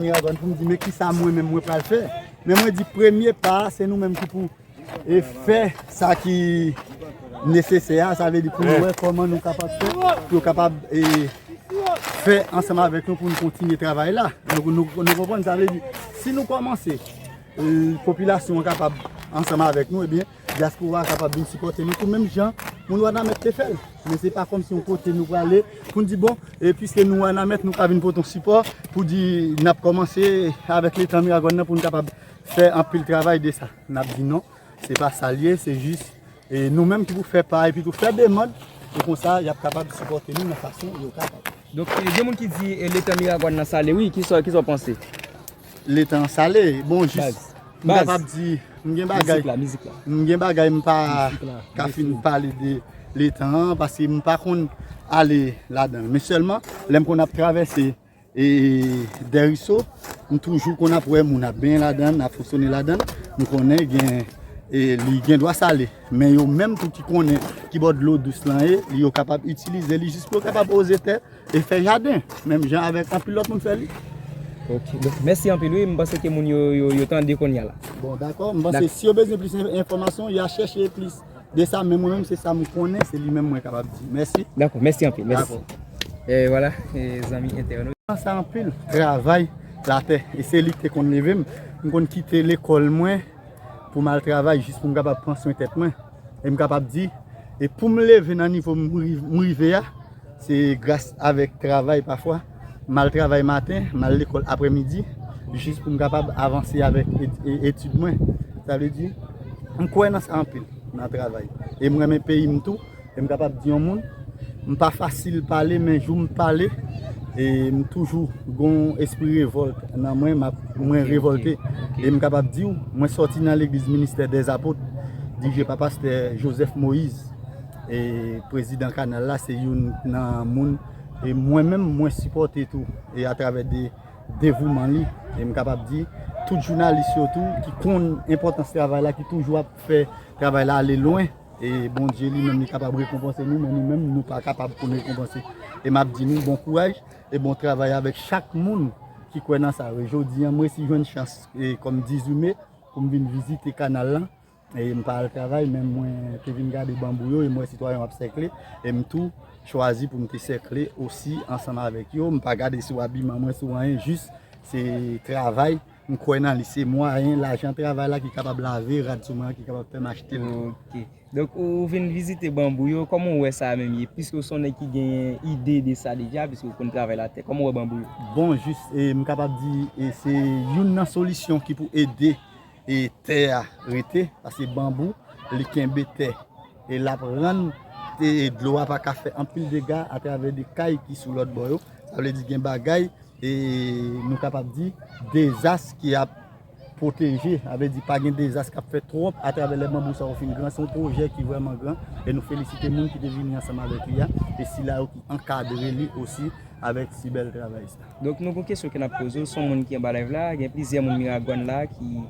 Mwen avan pou m di men kisa mwen menm mwen pral fè, men mwen di premye pa a se nou menm ki pou e fè sa ki nesesè a, sa vle di pou nou wè kòman nou kapab fè, pou yo kapab e fè ansanm avèk nou pou nou kontinye travay la. Nou konprann sa vle di si nou kòmanse popilasyon an kapab ansanm avèk nou ebyen. Dyaspora a kapab vin sipòte nou tou menm jan moun Wanament te fè l. Men se pa kòmsi yon kote nou prale pou n di bon piske nou Wanament nou ka vin pote yon sipò pou di n ap kòmanse avèk letan Miragwàn nan pou n kapab fè anpil travay de sa. N ap di non, se pa sa l ye, se jis nou menm ki pou fè pa epi tou fè demand pou konsa y ap kapab sipòte nou nan fason yo kapab. Donk gen moun ki di letan Miragwàn nan sale wi, kisa w panse? Le tan sale, bon jis m kapab di m gen bagay m gen bagay m pa ka fin pale de le tan an paske m pa konn ale ladan men sèlman lè m konn ap travèse e dèriso m toujou konn ap wè moun ap benyen ladan ap fosonnen ladan m konnen gen e li gen dwa sale men yo menm tou ki konnen ki bò dlo dous lan e li yo kapab itilize li jis pou yo kapab oze tè E fè jaden, menm jan avèk anpil lòt moun fè li. Ok, donk mèsi anpil wi, m panse ke moun yo tande kounye a la. Bon, dakò, m panse si yo bezwen plis enfòmasyon, y a chèche plis de sa, men mwen menm se sa m konnen, se li menm mwen kapab di. Mèsi. Dakò, mèsi anpil, mèsi. E wala, zanmi entènot. Mwen sa anpil travay latè, e se li ki te konn leve m, m konn kite lekòl mwen pou m al travay jis pou m kapab pran swen tèt mwen. e m kapab di e pou m leve nan nivo m rive a se gras avèk travay pafwa m al travay maten m al lekòl aprè midi jis pou m kapab avanse avèk etid mwen sa vle di m kwè nan sa anpil nan travay e m renmen peyi m tou e m kapab di yon moun M pa fasil pale men jou m pale m toujou gon espri revòlt nan mwen mwen revòlte e m kapab di w mwen sòti nan legliz ministè dèzapot dirije pa pastè Joseph Moïse e prezidan kanal la se youn nan moun e mwen menm mwen sipòte tou e atravè de devouman li e m kapab di tout jounalis yo tou ki konn enpòtans travay la ki toujou ap fè travay la ale lwen. E Bondye li menm li kapab rekonpanse nou men nou menm nou pa kapab pou nou rekonpanse. E m ap di nou bon kouraj e bon travay avèk chak moun ki kwè nan sa yo. E jodi an m resi jwenn chans e kòm 18 me pou m vin vizite kanal lan. E m pa al travay men mwen te vin gade banbou yo e m wè sitwayen yo ap sèkle. E m tou chwazi pou m te sèkle osi ansanm avèk yo. M pa gade sou abiman mwen, sou anyen jis se travay. M kwè nan li, se mwayen lajan travay la ki kapab lave rad sou mwen an ki kapab fè m achte l. Ok. Donk ou vin vizite banbou yo, kòman ou wè sa a menm ye? Piske ou s on nèg ki genyen ide de sa deja, piske ou konn travay latè, kòman ou wè banbou yo? Bon, jis e m kapab di e se youn nan solisyon ki pou ede e tè a rete, paske banbou li kenbe tè. E l ap rann dlo a pa ka fè anpil dega atravè de kay ki sou lòt bò yo. Sa vle di gen bagay nou kapab di dezas ki ap pwoteje. Sa vle di pa gen dezas k ap fèt twòp atravè lè banbou sa yo fin gran. Se yon pwojè ki vrèman gran e nou felisite moun ki te vini ansanm avèk li a e sila yo ki ankadre li osi avèk si bèl travay sa. Donk nou gon kesyon ke nap poze w, son moun ki anba live la, gen plizyè moun Miragwàn la ki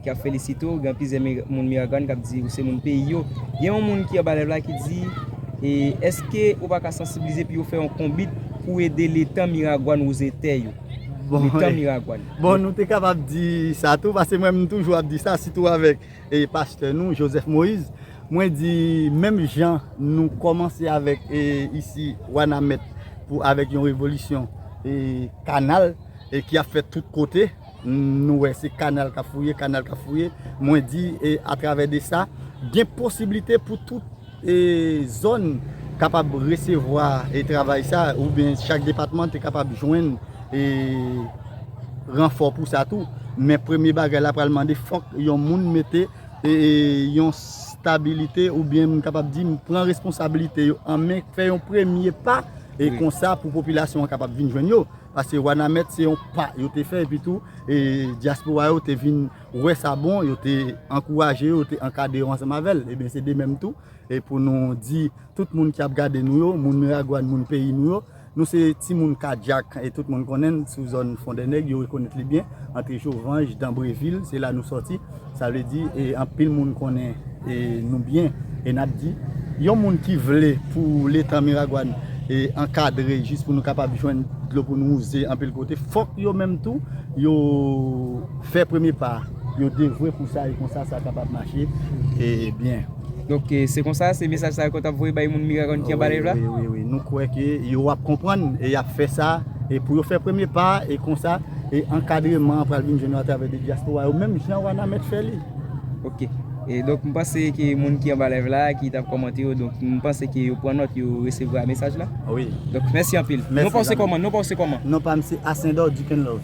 ki ap felisite w, gen plizyè moun Miragwàn kap di ou se moun peyi yo. Gen yon moun ki anba live la ki di e eske ou pa ka sansibilize pi ou fè yon konbit pou ede letan Miragwàn wouze tè yo. Letan Miragwàn. Bon nou te kapab di sa tou, pase mwen menm toujou ap di sa sitou avèk pastè nou Joseph Moïse. Mwen di menm jan nou komanse avek isi wanamet pou avek yon revolisyon kanal ki ap fet tout kote nou we se kanal kap fouye kanal kap fouye mwen di atrave de sa gen posiblite pou tout zon kapab resevwa e travay sa ou byen chak depatman te kapab jwen e ranfo pou sa tou men premye bagay la pral mande fok yon moun mete yon stabilite ou byen m kapab di m pran responsabilite yo an men fè yon premye pa e konsa pou popilasyon an kapab vin jwenn yo pase wanamèt se yon pa yo te fè epi tou e diaspora yo te vin wè sa bon yo te ankouraje yo te ankade yo ansanm avèl e byen se de menm tou e pou nou di tout moun ki ap gade nou yo moun miragwàn moun peyi nou yo Nou se timoun Kadyak e tout moun konnen n sou zòn Fondènèg, yo rekonèt li byen, antre Jovanj, Danbrevil, se la nou sòti. Sa vle di e anpil moun konnen e nou byen e n ap di, yon moun ki vle pou letan Miragwàn e ankadre jis pou nou kapab jwenn dlo pou nou wouze anpil kote, fòk yo menm tou yo fè premye pa a. Yo devwe pou sa e konsa sa kapab mache byen. Donk se konsa, se mesaj sa yo ke w t ap voye bay moun Miragoâne ki anba nèj la? Wi, wi, wi. Nou kwè ke yo ap konprann e y ap fè sa e pou yo fè premye pa a e konsa e ankadreman an pral vin jwenn yo atravè de dyaspora yo menm jan Wanament fè li. Ok. E donk m panse ke moun ki anba live la, ki t ap kòmante yo, donk m panse ke yo pran nòt, yo resevwa mesaj la. Wi. Donk mèsi anpil. Mèsi. Non pa w se kòman? Non pa w se kòman? Non pa m se Ascendor Dukenlove.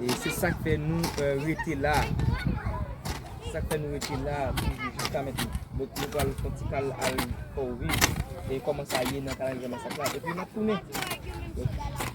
E se sak fè nou rete la. Se sak fè nou rete la toujou jiska mètnen. Bon nou pral fon ti kal al fè w viv. E kòman sa ye nan kalandriye masak la. E pi nap tounen. Ok.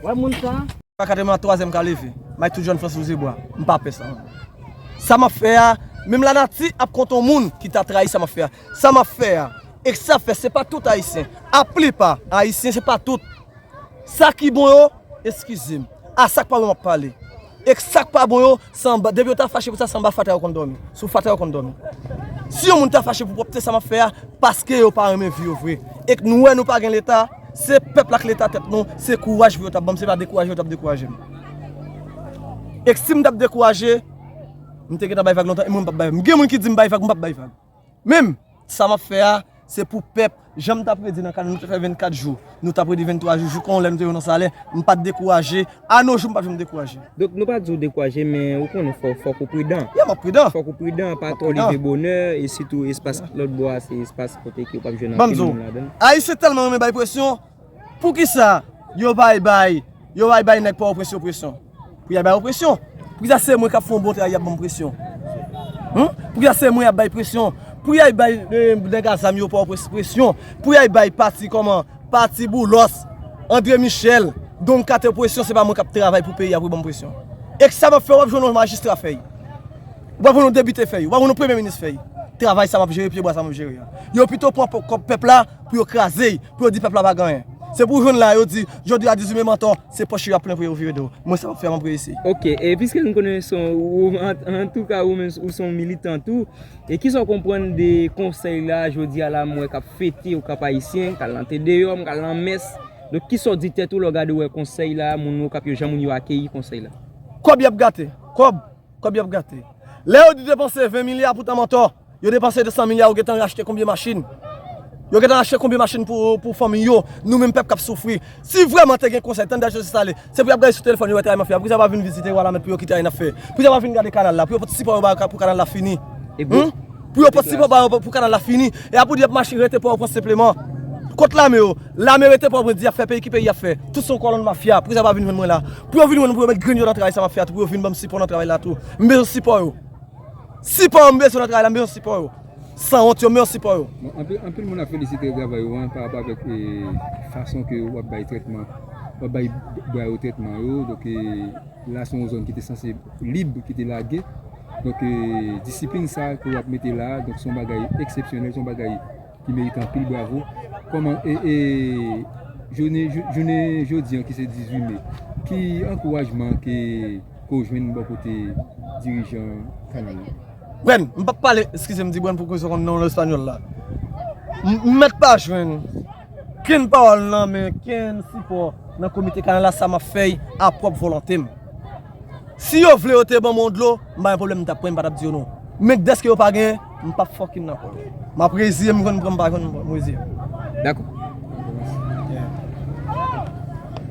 Wè moun sa? Pa kate mwen an twaze m ka leve. May tout jòn fè sou zebwa. M pa pè sa. Sa m ap fè a, menm la nati ap kont on moun ki ta trayi sa m ap fè a. Sa m ap fè a, e sa fè se pa tout ayisyen. A plipa ayisyen se pa tout. Sa ki bon yo. Eskize m. A sak pa bon map pale. E sak pa bon yo se anba depi yo ta fache pou sa se anba fatra yo konn domi. Sou fatra yo konn domi. Si yon moun ta fache pou pwopte sa map fè a paske yo pa renmen vi yo vre. Ek nou wè nou pa gen leta se pèp la ak leta tèt nou se kouraj pou yo tap banm se pa dekouraje yo tap dekouraje m. Ek sim tap dekouraje m te gentan bay vag lontan e mwen m pap bay vag. M gen moun ki di m bay vag m pap bay vag. Menm, sa m ap fè a, se pou pèp. Jan m t ap redi nan kanal, nou te fè 24 jou, nou t ap redi 23 jou, jouk yon lè nou te rive nan Salè, m pa t dekouraje, anojou m pa t janm dekouraje. Donk, nou pa di w dekouraje, men ou konnen fòk ou pridan. Ya, m ap pridan. Fòk ou pridan, pa twò leve bonè, e sitou espas lòtbò a se espas kote ke ou pa p jwenn anpil moun ladan l. Banm di w, Ayisyen tèlman renmen bay presyon, Poukisa yo bay bay yo bay bay nèg pòtoprens yo presyon? Pou ya bay yo presyon? Poukisa se mwen kap fè yon bon travay yap banm presyon? Humm poukisa se mwen yap bay presyon? Pou ya bay nèg a zam yo pòtoprens presyon? Pou ya bay pati kòman pati boulos andre michel don kato presyon se pa mwen kap travay pou peyi a pou yo banm presyon? Ek sa map fè wap jwenn yon majistra fèy? Ou pap jwenn yon debite fèy? Ou pap jwenn yon premye minis fèy? Travay sa map jere pye bwa sa map jere a yo pito pran kòb pèp la. Pou yo kraze y, pou yo di pèp la pa gen anyen. Se pou w jwenn la, yo di, jodi a Dizou men mantò, se pòch yo y ap plen pou yo vire do. Mwen sa m ap fè m ap reyisi. Ok, e piske nou konnen son ou, antouka ou menm ou son militan tou, e kisa w konprann de konsèy la jodi a la m wè k ap fete ou k ap ayisyen, k al nan te deyòm, k al nan mès. Donk kisa w di tèt ou lè w gade w wè konsèy la, moun Okap yo, jan moun yo akeyi konsèy la? Kòb y ap gate, kòb. Kob yap gate. Lè yo di depanse 20 milya poutan mantò, yo depanse 200 milya yo gentan rachte konbyen machin? Yo gentan rachte konbyen machin pou fanmiy yo, nou menm pèp kap soufri. Si vrèman te gen konsèy, tan Dèl Sosye Sale, se pou yap gade sou telefòn yo wè travay mafya a, poukisa yo pa vin vizite Wanament pou yo ki travay nap fè? Poukisa yo pa vin gade kanal la, pou yo pot sipo yo bay pou kanal la fini? Humm. Pou yo pot sipò ba yo pou kanal la fini. E a pou di yap mache rete pò o prens senpleman. Kot lame yo? Lame rete pò o prens di yap fè peyi ki peyi yap fè. Tout se yon kolonn mafya. Poukisa yo pa vin jwenn mwen la? Pou yo vin jwenn mwen pou yo met grenn yo nan travay sa map fè a tou pou yo vin banm sipò nan travay la tou. M bezwen sipò yo. Sipò yo m bezwen nan travay la m bezwen sipò yo. Sanwont yo m bezwen sipò yo. Bon anpil anpil moun ap felisite travay ou an pa rapò avèk fason ke wap bay trètman wap bay bwa yo trètman yo donk e. La se yon zòn ki te sanse lib, ki te lage. Donk, disiplin sa a ke w ap mete la a, donk se yon bagay eksepsyonèl, se yon bagay ki merite anpil bravo. Kòman e, e jounen, jounen jodi an ki se 18 me, ki ankourajman ke ou jwenn bò kote dirijan Kanal la? Brenn, m p ap pale, eskize m di Brenn pou ke w konn non l espanyòl la. M mèt pa jwenn. Ken pawòl nan men ken sipò nan komite kanal la sa map fèy a pwòp volontem si yo vle yo te banm yon dlo m pa gen pwoblèm m tap pran m patap di yo non men deske yo pa genyen m pap fòkinn nan kòl map reziye m jwenn m pran m pa jwenn m reziye m. Dakò.